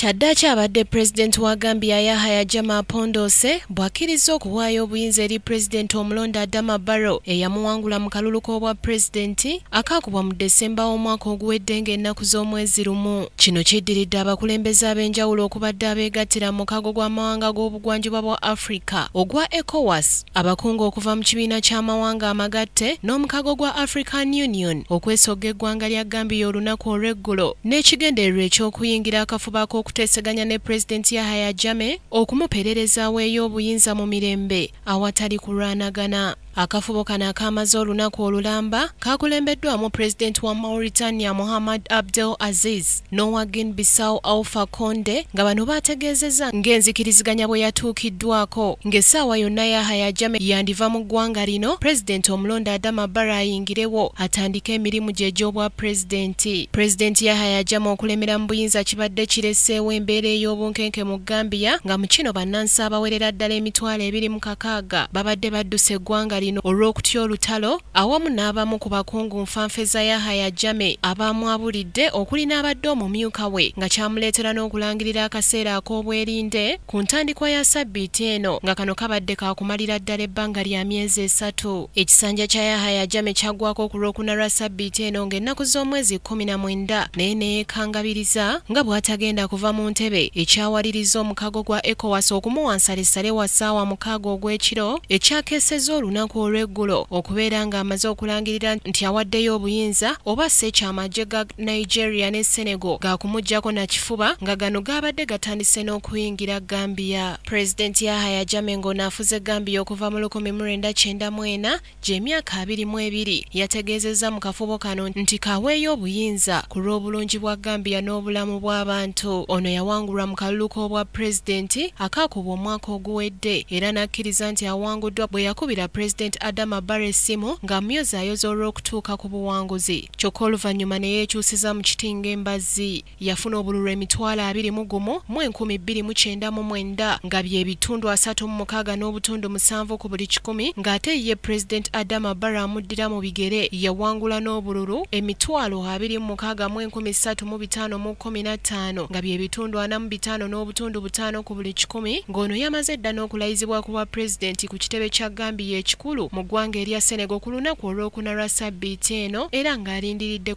Kyaddaaki abadde Pulezidenti wa Gambia Yahaya Jammah Pondoose bw'akkirizza okuwaayo obuyinza eri Pulezidenti omulonde Adama Barrow eyamuwangula mu kalulu k'obwapulezidenti akaakubwa mu December w'omwaka oguwedde ng'ennaku z'omwezi lumu. Kino kiddiridde abakulembeze ab'enjawulo okubadde abeegattira mu mukago gw'amawanga g'obugwanjuba bwa Africa ogwa ECOWAS, Abakungu okuva mu kibiina ky'amawanga amagatte n'omukago gwa African Union okwesogga eggwanga lya Gambia olunaku olw'eggulo n'ekigendererwa eky'okuyingira akafubo ak'okuteeseganya ne Pulezidenti Yahaya Jammeh okumupererezaawo eye obuyinza mu mirembe awatali kulwanagana. Akafubo kano akaamaze olunaku olulamba kaakulembeddwamu Pulezidenti wa Mauritania Mohamed Abdel Aziz. n'owa Guinea Bissau Alpha Conde nga bano baategeezezza ng'enzikiriziganya bwe yatuukiddwaako ng'essaawa yonna Yahaya Jammeh yandiva mu ggwanga lino pulezidenti omulonde Adama Barrow ayingirewo atandike emirimu gye egy'obwapulezidenti. Pulezidenti Yahaya Jammeh okulemera mu buyinza kibadde kireseewo embeera ey'obunkenke mu Gambia nga mu kino bannansi abawerera ddala emitwalo ebiri mu kakaaga babadde badduse eggwanga lino olw'okutya olutalo awamu n'abamu ku bakungu nfanfe za Yahaya Jammeh abaamwabulidde okuli n'abadde omumyuka we nga kyamuleetera n'okulangirira akaseera ak'obwerinde ku ntandikwa ya ssabbiiti eno nga kano kabadde kaakumalira ddala ebbanga lya myezi esatu. Ekisanja kya Yahaya Jammeh kyaggwako ku Lwokuna lwa ssabbiiti eno ng'ennaku z'omwezi kkumi na mwenda naye ne yeekangabiriza nga bw'atagenda kuva mu ntebe ekyawaliriza mukago gwa ECOWAS okumuwa nsalesale wa ssaawa mukaaga ogw'ekiro ekyakeesezza olunaku olw'eggulo okubeera nga amaze okulangirira nti awaddeyo obuyinza oba asse ekyo amagye ga Nigeria ne Senegal gaakumuggyako na kifuba nga gano gaabadde gatandise n'okuyingira Gambia. Pulezidenti Yahaya Jammeh ng'ono afuze Gambia okuva mu lukumi mu lwenda kyenda mu ena, gy'emyaka abiri mu ebiri yategeezezza mu kafubo kano nti k'aweeyo obuyinza ku lw'obulungi bwa Gambia n'obulamu bw'abantu. Ono yawangulwa mu kalulu k'Obwapulezidenti akaakubwa omwaka oguwedde era n'akkiriza nti awanguddwa bwe yakubira Pulezidenti Adama Barrow essimu ng'amuyozaayoza olw'okutuuka ku buwanguzi kyokka oluvannyuma ne yeekyusiza mu kiti ng'embazzi. yafuna obululu emitwalo abiri mu gumu mu enkumi bbiri mu kyenda mu mwenda nga bye bitundu asatu mu mukaaga n'obutundu musanvu ku buli kikumi ng'ate ye Pulezidenti Adama Barrow amuddira mu bigere yawangula n'obululu emitwalo abiri mu mukaaga mu enkumi ssatu mu bitaano mu kkumi na ttaano nga bye bitundu ana mu bitaano n'obutundu butaano ku buli kikumi ng'ono yamaze dda n'okulayizibwa ku bwa Pulezidenti ku kitebe kya Gambia ekikulu mu ggwanga erya Senegal ku lunaku olwokuna lwa sabbiiti eno era ng'alindiridde